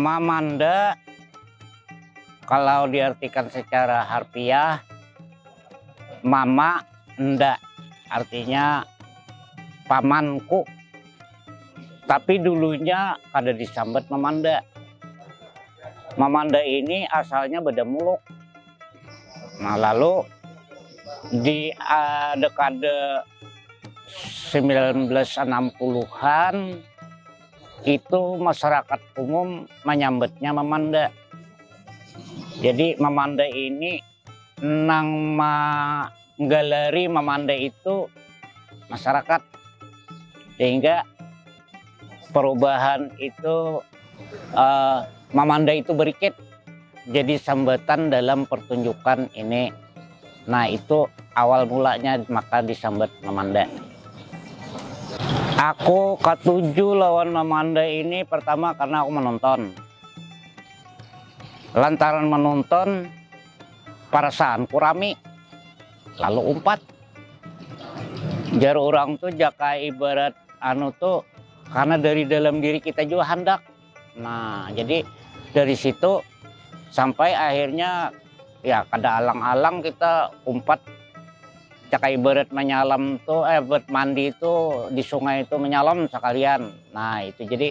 Mamanda kalau diartikan secara harfiah mama nda artinya pamanku tapi dulunya kada disambat mamanda mamanda ini asalnya beda muluk nah lalu di uh, dekade 1960-an itu masyarakat umum menyambetnya memanda. Jadi memanda ini nang manggalari mamandai itu masyarakat sehingga perubahan itu mamandai itu berikit jadi sambatan dalam pertunjukan ini nah itu awal mulanya maka disambat mamandai aku katuju lawan mamandai ini pertama karna aku menonton. Lantaran manonton, perasaanku rami, lalu umpat. Jar urang tu jaka ibarat anu tu karena dari dalam diri kita jua handak. Nah, jadi dari situ sampai akhirnya ya kada alang-alang kita umpat jaka ibarat manyalam tu, eh, mandi tu di sungai tu manyalam sakalian. Nah, itu jadi.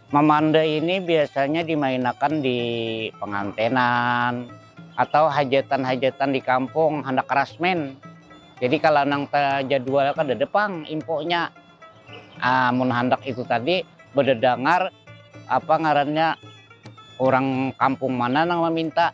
Mamanda ini biasanya dimainakan di pangantenan atau hajatan-hajatan di kampung handak rasmin. Jadi kala nang tajadwal kadada pang infonya. Ah, mun handak itu tadi badadangar apa ngarannya urang kampung mana nang maminta.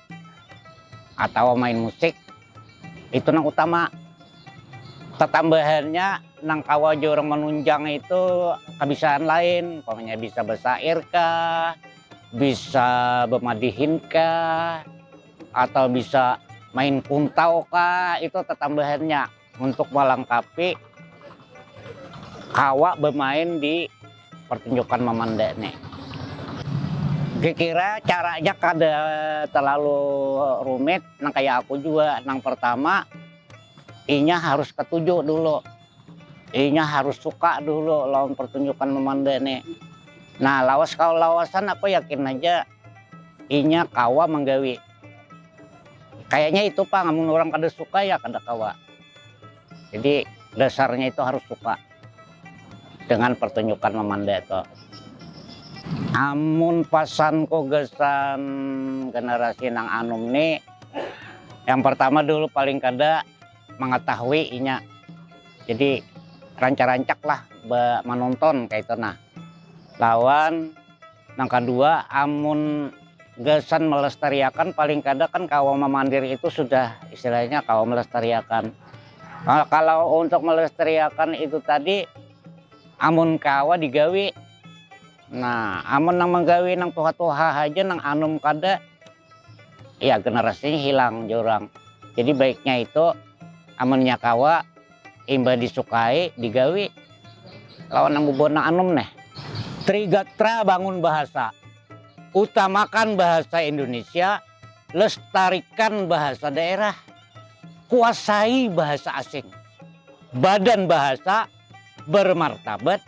atau main musik itu nang utama tatambahannya nang kawa jua orang manunjang itu kabiasaan lain pokoknya bisa bersair kah bisa bermadihin kah atau bisa main kuntau kah itu tatambahannya untuk melengkapi kawa bermain di pertunjukan memandai ini kira-kira caranya kada terlalu rumit nang kaya aku jua nang pertama inya harus ketuju dulu inya harus suka dulu lawan pertunjukan memandai ini nah lawas kawa lawasan aku yakin aja inya kawa menggawi. kayaknya itu pak namun orang kada suka ya kada kawa jadi dasarnya itu harus suka dengan pertunjukan memandai itu amun pasan ku gasan generasi nang anum ni yang pertama dulu paling kada mengetahui inya jadi rancak rancak lah menonton kaya itu nah lawan. Nang kadua, amun gasan melestariakan paling kada kan kawa mamandir itu sudah istilahnya kawa melestariakan. Kalau untuk melestariakan itu tadi amun kawa digawi, nah amun nang manggawi nang tuha-tuha haja nang anum kada ya generasinya hilang jar urang. Jadi baiknya itu amunnya kawa. Imbah disukai, digawi lawan nang bubuhan nang anum neh. Trigatra bangun bahasa, utamakan bahasa Indonesia, lestarikan bahasa daerah, kuasai bahasa asing, badan bahasa bermartabat,